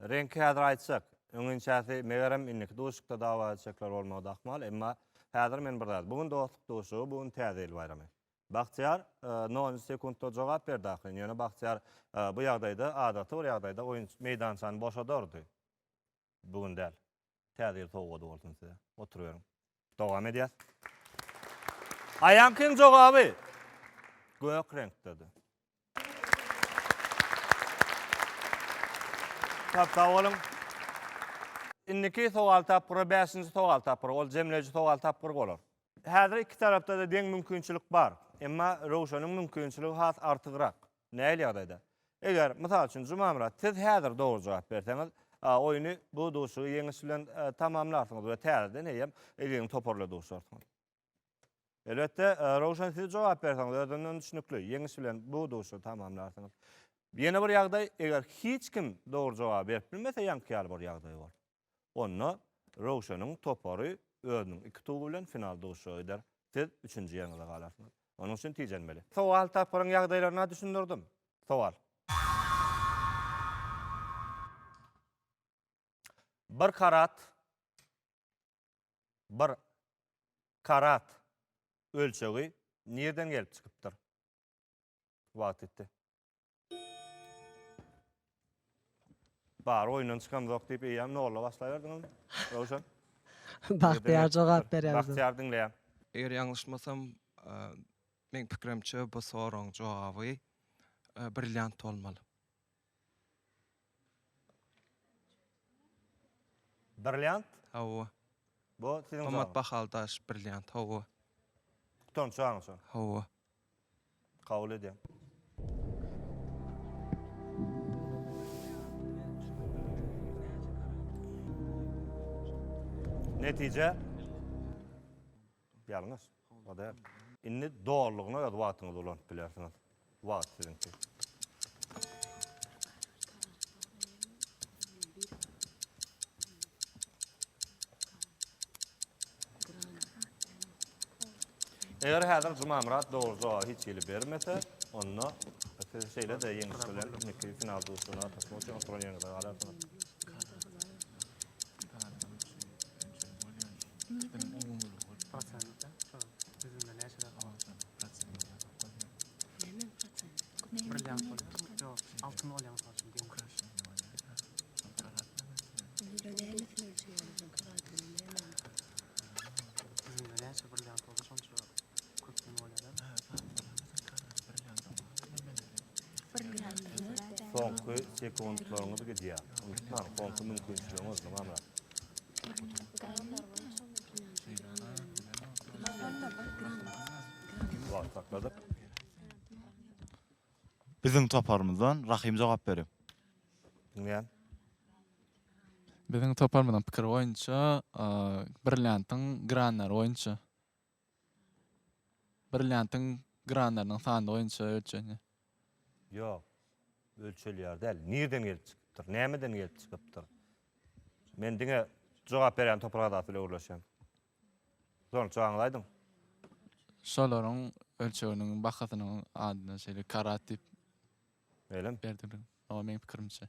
Reňki häzir aýtjak. Öňinçäsi megerem indiki duşukda dawa çekler bolmagy da ahmal. Emma häzir men bir zat. Bu gün dostluk duşugy, bu gün täze ýyl baýramy. Bagtyýar e, nonunjy sekuntda jogap berdi ahyryn. Ýöne Bagtyýar e, bu ýagdaýda adaty bir ýagdaýda oýun meýdançany boşadardy. bu gün däl. Täze ýyl sowgady bolsun size. Oturyberiň. Dowam edýäs. Aýankyň jogaby gök reňkdedi. Köp sag boluň. Indiki sowal tapgyry bäşinji sowal tapgyry, ol jemleýji sowal tapgyry bolar. Häzir iki tarapda-da deň mümkinçilik bar. Emma Röwşeniň mümkinçiligi has artygrak. Nähili ýagdaýda? Eger, mysal üçin, Jumamyrat, siz häzir dogry jogap berseňiz, oýny, bu duşuşygy ýeňiş bilen tamamlarsyňyz we täzeden eýýäm Eziziň toparyla duşarsyňyz. Elbetde, Röwşen, siz jogap berseňiz özünden düşnükli, ýeňiş bilen bu duşuşygy tamamlarsyňyz. Ýene bir ýagdaý, eger hiç kim dogry jogaby berip bilmese, ýaňky ýaly bir ýagdaý bor. Onda Röwşeniň topary özüniň iki tugy bilen final duşuşyga gider. Siz üçünji ýeriňize galarsyňyz. Onuň üçin tijenmeli. Sowal, Tapgyryň ýagdaýlaryna düşündirdim. Sowal. Bir karat Bir karat ölçegi nirden gelip çykypdyr? Wagt ýetdi. Bar oýundan çykamzok diýip eýýäm nolla başlaýardyňyz. Röwşen. Bagtyýar jogap berýär. Bagtyýar diňleýär. Eger ýalňyşmasam, meň pikirimçe bu soragyň jogaby brilliant bolmaly. Brilliant? Hawa. Bu siziň jaňyz. Gymmat bahaly daş, brilliant, hawa. Tutan çagyň şo. Hawa. Kabul edýän. Netije. Ýalňyş. O däl. Indi dolulygyna öz wagtyňyzy ulanyp bilersiňiz. Wagt siziňki. Eger häzir Jumamyrat dogry jogaby hiç hili bermese, onda siz şeýle-de ýeňiş bilen indiki final duşuşygyna gatnaşmak üçin oturan ýeriňizde galarsyňyz. Soňky sekuntlaryňyz gidýär. Gürjistan konky mümkinçiligiňiz nirmame? Wagt sakladyk. Biziň toparymyzdan Rahym jogap berer. Diňleýän. Biziň toparymyzyň pikiri boýunça, Brilliantyň granlary boýunça. Brilliantyň granlarynyň sany boýunça ölçenýär. Ýok. Ölçelýär däl. Nireden gelip çykypdyr? Nämeden gelip çykypdyr? Men diňe jogap berýän toprak adasy bilen gürleşýän. Soň jogaňyzy aýdyň. Şolaryň ölçeginiň bahasynyň adyna şeýle karat diýip Öýlemi? berdiler. Oňa meň pikirimçe.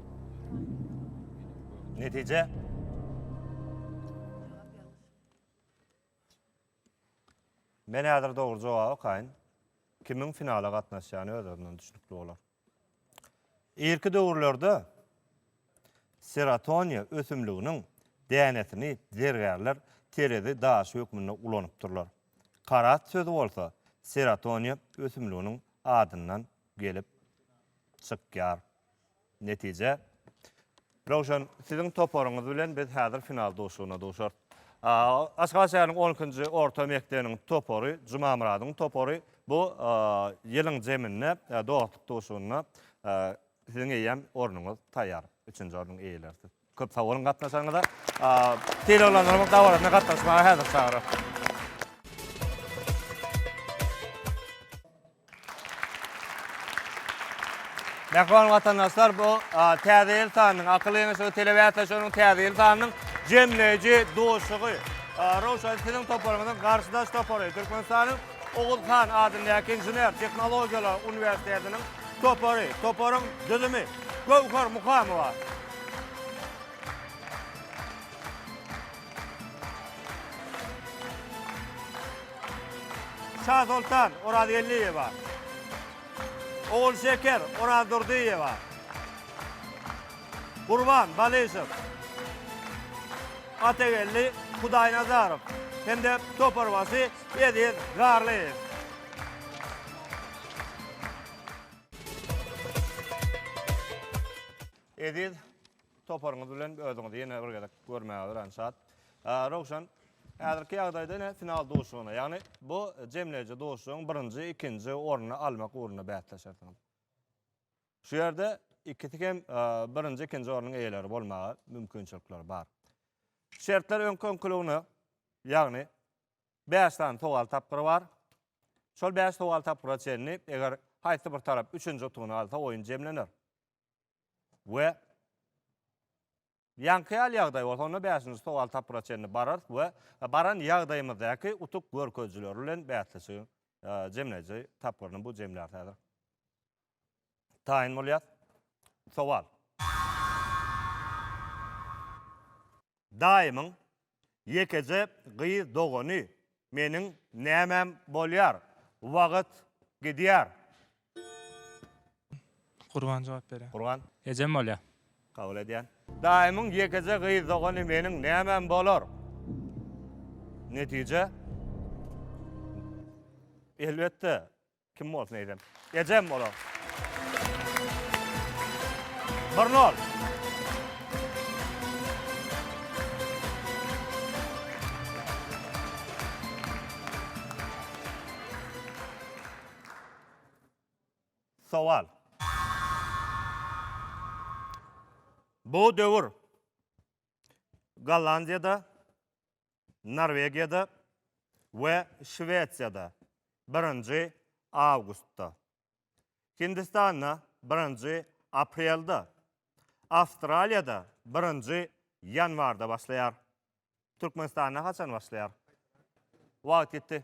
Netije? Men häzir dogry jogap okaýyn. Kimiň finala gatnaşýany özlerinden düşnükli bolar. Irki döwürlerde serotoniýa ösümliginiň dänesini zergärler terezi daşy hökmünde ulanypdyrlar. Karat sözi bolsa serotoniýa ösümliginiň adyndan gelip çykýar. Netije, Röwşen, siziň toparyňyz bilen biz häzir final duşuşygyna duşarys. Aşgabat şäheriniň on ikinji orta mekdebiniň topary, Jumamyradyň topary bu ýylyň zeminde dostluk duşuşygynda siziň eýýäm ornuňyz taýýar. Üçünji ornuň eýelerisiz. Köp sag boluň gatnaşanyňyza. Sylaglandyrylyň dabarasyna gatnaşmaga häzir çagyryň. Mähriban watandaşlar, bu Täze ýyl sanynyň, Akyl geňeşligi telebäsleşiginiň Täze ýyl sanynyň jemleýji duşuşygy. Röwşen, siziň toparyňyzyň garşydaş topary, Türkmenistanyň Oguz han adyndaky Inžener tehnologiýalar uniwersitetiniň topary. Toparyň düzümi, Göwher Muhamowa, Şasoltan Orazgeldiýewa, Ogulşeker Orazdurdyýewa, Gurban Balyşew, Atageldi Hudaýnazarow hem-de toparbaşy Eziz Garlyýew. Eziz toparyňyz bilen özüňizi ýene bir gezek görmäge örän şat. Rowşan, häzirki ýagdaýda ine final duşuşygyna, ýagny bu jemleýji duşuşygyň birinji, ikinji ornuny almak ugrunda bäsleşersiňiz. Şu ýerde ikisi hem birinji, ikinji ornuň eýeleri bolmaga mümkinçilikleri bar. Şertler öňki-öňküligine, ýagny bäş sany sowal tapgyry bar. Şol bäş sowal tapgyra çenli, eger haýsy bir tarap üçünji utugyny alsa, oýun jemlener. We ýaňky ýaly ýagdaý bolsa, onda bäşinji sowal tapgyra çenli bararys we baran ýagdaýymyzdaky utuk görkezijileri bilen bäsleşigiň jemleýji tapgyryny bu jemlär häzir. taýyn bolýar. Sowal. Daýymyň ýekeje gyz dogany meniň nämäm bolýar? Wagt gidýär. Gurban jogap berýär. Gurban. Ejem bolýar. Kabul edýän. Daýymyň ýekeje gyz dogany meniň nämäm bolar? Netije. Elbetde, Kim bolsun eýsem? Ejem olar. Bir nol. Sowal. Bu döwür Gollandiýada Norwegiýada we Şwesiýada, birinji awgustda, Hindistanda, birinji aprelde, Awstraliýada, birinji ýanwarda başlaýar. Türkmenistanda haçan başlaýar? Wagt ýetdi.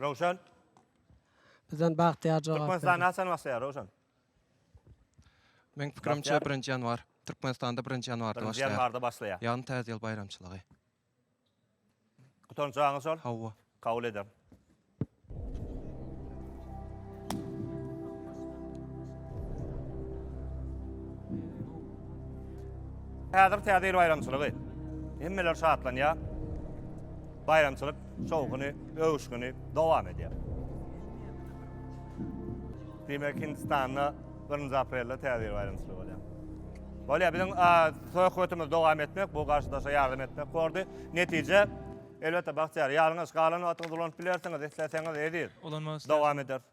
Rowşan. Bizden Bagtyýar jogap berdi. Türkmenistany haçan başlaýar Rowşan? Meň pikirimçe birinji ýanwar. Türkmenistanda birinji ýanwarda başlaýar. Birinji ýanwarda başlaýar. Ýagny täze ýyl baýramçylygy. Gutanç jaňyz şol? Hawa. Kabul ederin. Häzir täze ýyl baýramçylygy. Hemmeler şatlanýar. Baýramçylyk. Şowhuny, öwüşgini dowam edýär. Diýmek, Hindistanda birinji aprelde Täze ýyl baýramçylygy bolýar. Bolýar, biziň söhbetimizi dowam etmek, bu garşydaşa ýardam etmek bordy. Netije, elbetde, bagtyýar, ýalňyş, galan wagtyňyzy ulanyp bilersiňiz, isleseňiz, eziz. Ulanmak isleýärin. Dowam ederis.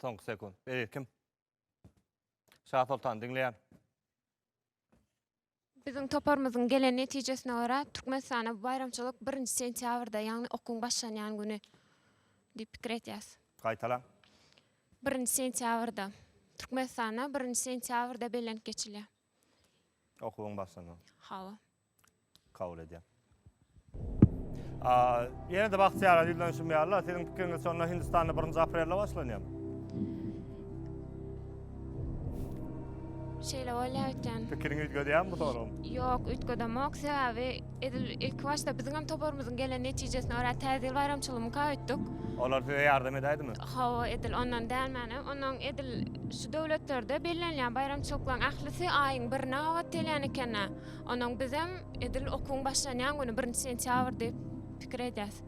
Soňky sekund. Beýik kim? Şah Soltan diňleýän. Biziň toparymyzyň gelen netijesine görä, Türkmenistana bu baýramçylyk 1-nji sentýabrda, ýagny okuwyň başlanýan güni diýip pikir edýäs. Gaýtalaň. 1-nji sentýabrda. Türkmenistana 1-nji sentýabrda bellenip geçilýär. Okuwyň başlandy. Hawa. Kabul edýän. Ýene-de bagtyýarlar ýüzlenişim düşünýärler. Siziň pikiriňiz şonda Hindistanda 1-nji aprelde başlanýar. Şeýle bolýar öýtýän. Pikiriňi üýtgedýärmi bu soragyň? Ýok, üýtgedemok. Sebäbi Edil ilki başda biziňem toparymyzyň gelen netijesine görä Täze ýyl baýramçylygyny mukap etdik. Olar size ýardam edäýdimi? Hawa, edil ondan dälmän, ondan edil şu döwletlerde bellenilýän baýramçylyklaryň ählisi aýyň birine gabat gelýän eken-ä. Ondan bizem edil okuwyň başlanýan güni, birinji sentýabr diýip pikir edýäs.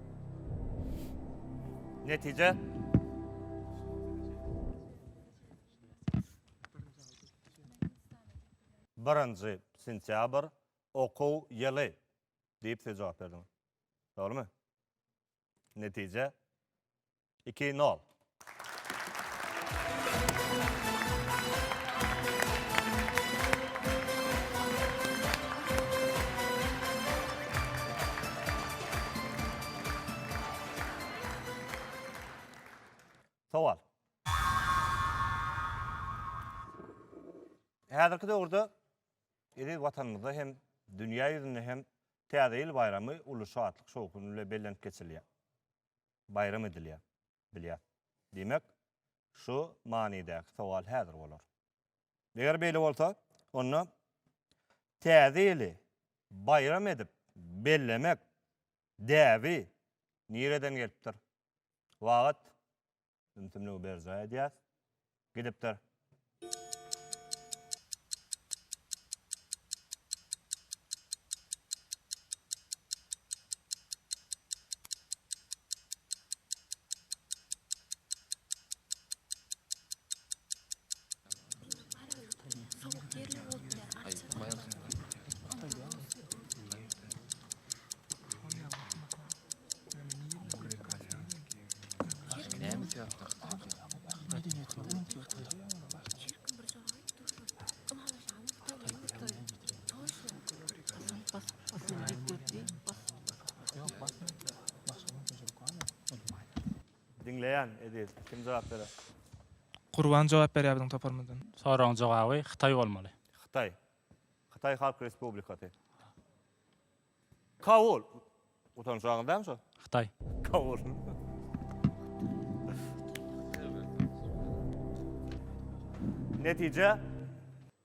Netije? Birinji sentýabr, Okuw ýyly diýip siz jogap berdiňiz. Dogrumy? Netije iki nol. Sowal. Häzirki döwürde iri Watanymyzda hem, dünýä ýüzünde hem Täze ýyl baýramy uly şatlyk-şowhun bilen bellenip geçilýär, baýram edilýär, bilýär. Diýmek, şu manydäki sowal häzir bolar. Eger beýle bolsa, onda Täze ýyly baýram edip bellemek däbi nireden gelipdir? Wagyt Ümsümligi berjaý edýäs. Gidipdir. Diňleýän Ediz, kim jogap berer? Gurban jogap berýär biziň toparymyzdan. Soragyň jogaby Hytaý bolmaly. Hytaý. Hytaý Halk Respublikasy. Kabul. Utanç aňyz dämi şo? Hytaý. Kabul. Netije.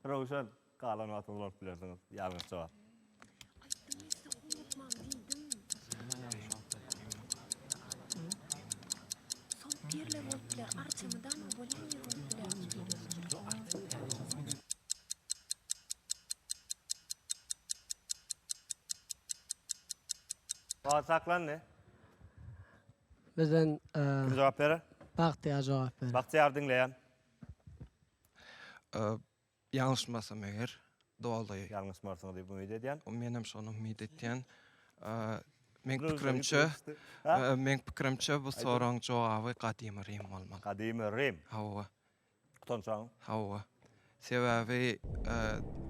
Röwşen, galan wagtyňyzy bolup bilersiňiz. Ýalňyş jogap. Wagt saklandy. Bizden e, Kim jogap berer? Bagtyýar jogap berer. Bagtyýar diňleýän. Ee, Ýalňyşmasam eger, doly. Ýalňyşmarsyňyz diýip umyt edýän. Menem şony umyt etýän. Meň pikirimçe, meň pikirimçe bu soragyň jogaby Gadymy Rim bolmaly. Gadymy Rim? Hawa. Utançaňyz? Hawa. Sebäbi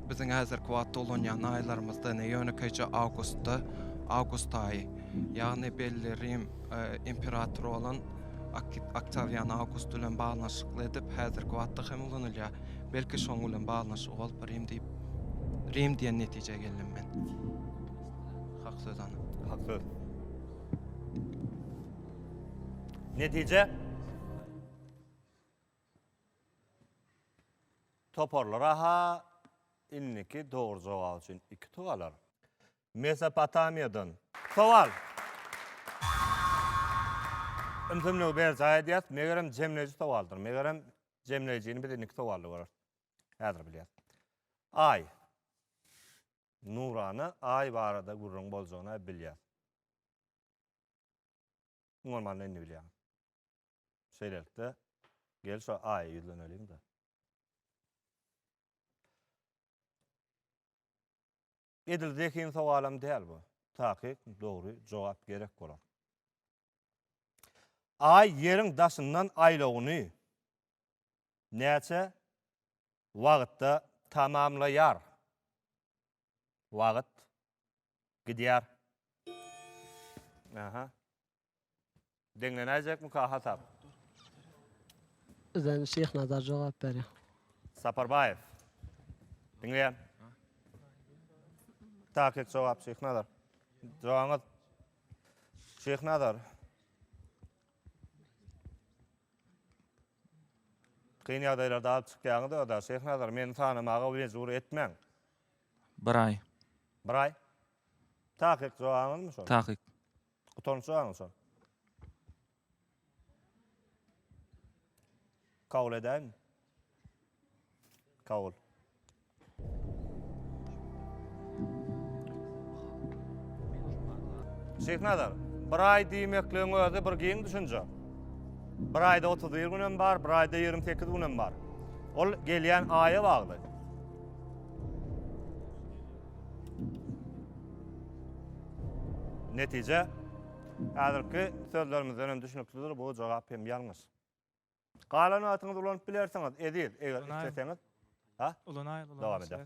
biziň häzirki wagtda ulanýan aýlarymyzda ýönekeýje awgustda, awgust aýy. Ýagny belli Rim. imperator bolan Oktawian Awgust bilen baglanyşykly edip häzirki wagtda hem ulanylýar. Belki şoň bilen baglanyşygy bolup Rim diýip Rim diýen netijä geldim men. Hak söz ana. Hak söz. Netije Toparlar aha indiki dogry jogap üçin iki tugalar. Mesopotamiýadan. Sowal. Ümsümligi berjaý edýäris, megerem jemleýji sowaldyr. Megerem jemleýjini biz indiki sowalda göreris. Häzir bilýäris. Aý. Nurana Aý barada gürrüň boljagyny-a bilýäs. Iň bolmanda indi bilýäň. Şeýlelikde, gel şu Aýa ýüzleneliň-de. Edil zehin sogalam däl bu. Takyk, dogry jogap gerek bolar. Aý ýeriň daşyndan aýlawyny näçe wagtda tamamlaýar? Wagt gidýär. Aha. Deňlenäýjekmika Ahat ap? Bizden Şyhnazar jogap berýär. Saparbaýew. Diňleýän. Takyk jogap Şyhnazar. Jogabyňyz. Şyhnazar. Kyn ýagdaýlarda alyp çykýaňyz ödä Şyhnazar meni tanamaga mejbur etmäň. Bir aý. Bir aý. Takyk jogabyňyzmy şol? Takyk. Gutarmyş aň şol. Kabul edäými? Kabul. Şeýhnazar, bir aý diýmekligiň özi bir giň düşünje. Bir aýda 31 gün hem bar, bir aýda 28 gün hem bar. Ol gelýän aýa bagly. Netije, häzirki sözlerimizden hem düşnüklidir, bu jogap hem ýalňyş. Galan wagtyňyzy ulanyp bilersiňiz, Eziz, eger isleseňiz. Ha? Ulanaýyl, ulanaýyl. Dowam edä.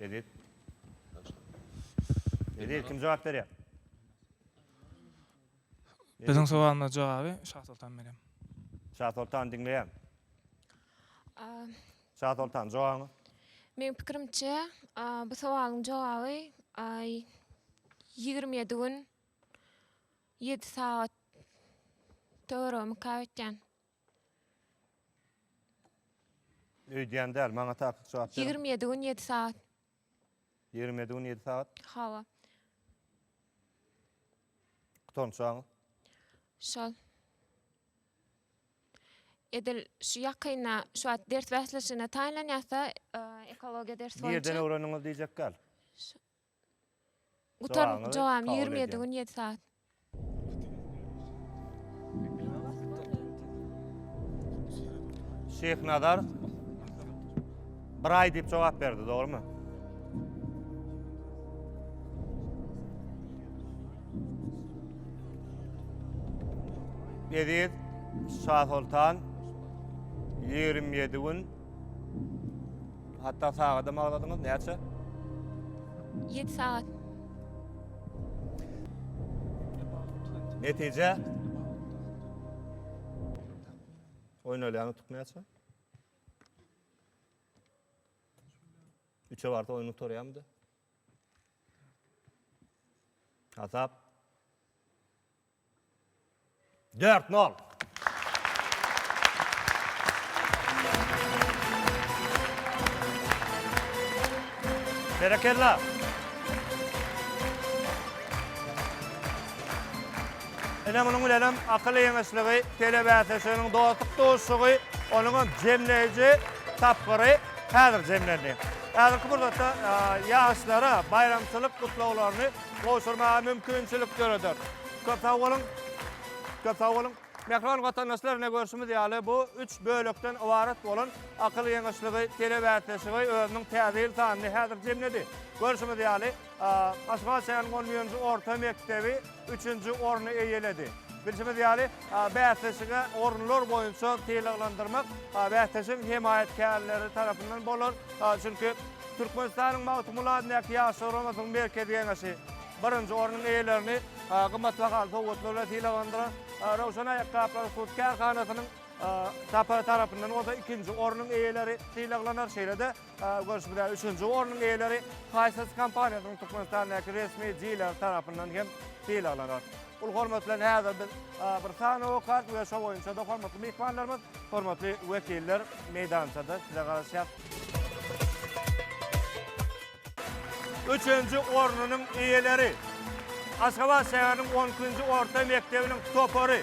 Edip. Edip kim jogap berýär? Biziň sowalymyza jogaby Şasoltan berýär. Şasoltan diňleýän. Şasoltan jogabyňy. Meň pikirimçe bu sowalyň jogaby ýigrimi ýedi gün ýedi sagat töweregimikap etýän. Öýdýän däl, maňa takyk jogap beriň. Ýigrimi ýedi gün ýedi sagat. Ýigrimi ýedi gün ýedi sagat. Hawa. Gutançagyň. Şol. Edil şu ýakynda şu wagt ders bäsleşigine taýynlanýarsa, ekologiýa dersi boýunça. Nirden öwrendiňiz diýjek däl. Gutar jogam ýigrimi ýedi gün ýedi saat. Şyhnazar bir aý diýip jogap berdi, dogrumy? Eziz Şasoltan ýigrimi ýedi gün Hatda sagadam agladyňyz, näçe? 7 sagat. Netije? Oýnalýan utuk näçe? Üçe barsa oýun utarýamdy. Hasap. Dört nol. Berekella. Ine munuň bilenem akyl ýeňişligi, telebäsleşiginiň dostluk duşuşygy, onuňam jemleýji tapgyry häzir jemlendi. Häzirki pursatda ýaşlara baýramçylyk gutlaglaryny gowşurmaga mümkinçilik döreder. Köp sag boluň! Köp sag boluň! Mähriban watandaşlar, ine görşümiz ýaly, bu üç bölekden ybarat bolan Akyl ýeňişligi telebäsleşigi özüniň täze ýyl sanyny häzir jemledi. Görşümiz ýaly, Aşgabat şäheriniň on birinji orta mekdebi üçünji orny eýeledi. Bilşimiz ýaly, bäsleşige orunlar boýunça sylaglandyrmak bäsleşigiň hemaýatkärleri tarapyndan bolar. Çünki, Türkmenistanyň Magtymguly adyndaky Ýaş Şuramasynyň Merkezi Geňeşi birinji ornuň eýelerini gymmatbahaly sowgatlar bilen sylaglandyran. Röwşen aýakgaplary hut kärhanasynyň TAP-y tarapyndan bolsa ikinji ornuň eýeleri sylaglanar. Şeýle-de, görşümize üçünji ornuň eýeleri Hisense kompaniýasynyň Türkmenistandaky resmi dileri tarapyndan hem sylaglanar. Ol hormat bilen häzir biz bir sany okap we şo boýunça-da hormatly myhmanlarymyz, hormatly wekiller meýdançada size garaşýar. Üçünji ornunyň eýeleri, Aşgabat şäheriniň on ikinji orta mekdebiniň topary.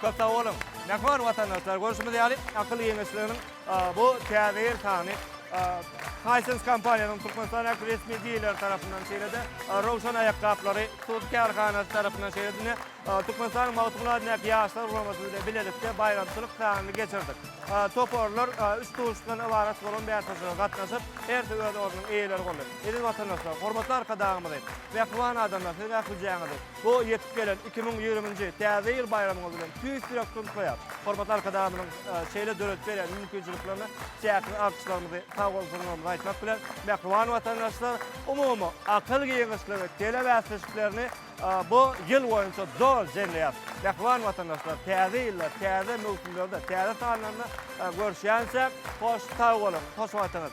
Köp sag boluň. Ne hor watandaşlar, görşümiz ýaly akyl geňeşliginiň bu täze ýyl sany Hisense kompaniýasynyň Türkmenistan ähli resmi dileri tarapyndan şeýle-de Rowşan aýakgaplary hut kärhanasy tarapyndan şeýle-de ine Türkmenistanyň Magtymguly adyndaky Ýaşlar guramasy bilen bilelikde baýramçylyk sanyny geçirdik. Toparlar üç duşuşykdan ybarat bolan bäsleşige gatnaşyp, hersi öz ornunyň eýeleri boldy. Eziz watandaşlar, hormatly Arkadagymyzy, mähriban adamlar siziň ählijäňizi, Bu ýetip gelen iki müň ýigrimi nji Täze ýyl baýramyňyz bilen tüýs ýürekden gutlaýarys. Hormatly Arkadagymyzyň şeýle döredip berýän mümkinçiliklerine çäksiz alkyşlarymyzy, sagbolsunlarymyzy aýtmak bilen, mähriban watandaşlar, umumy akyl giňişligi telebäsleşiklerini bu ýyl boýunça zor jemleýäris. Mähriban watandaşlar, Täze ýylda, täze möwsümlerde, täze sanlarynda görüşýänçäk, hoş sag boluň, hoş wagtyňyz!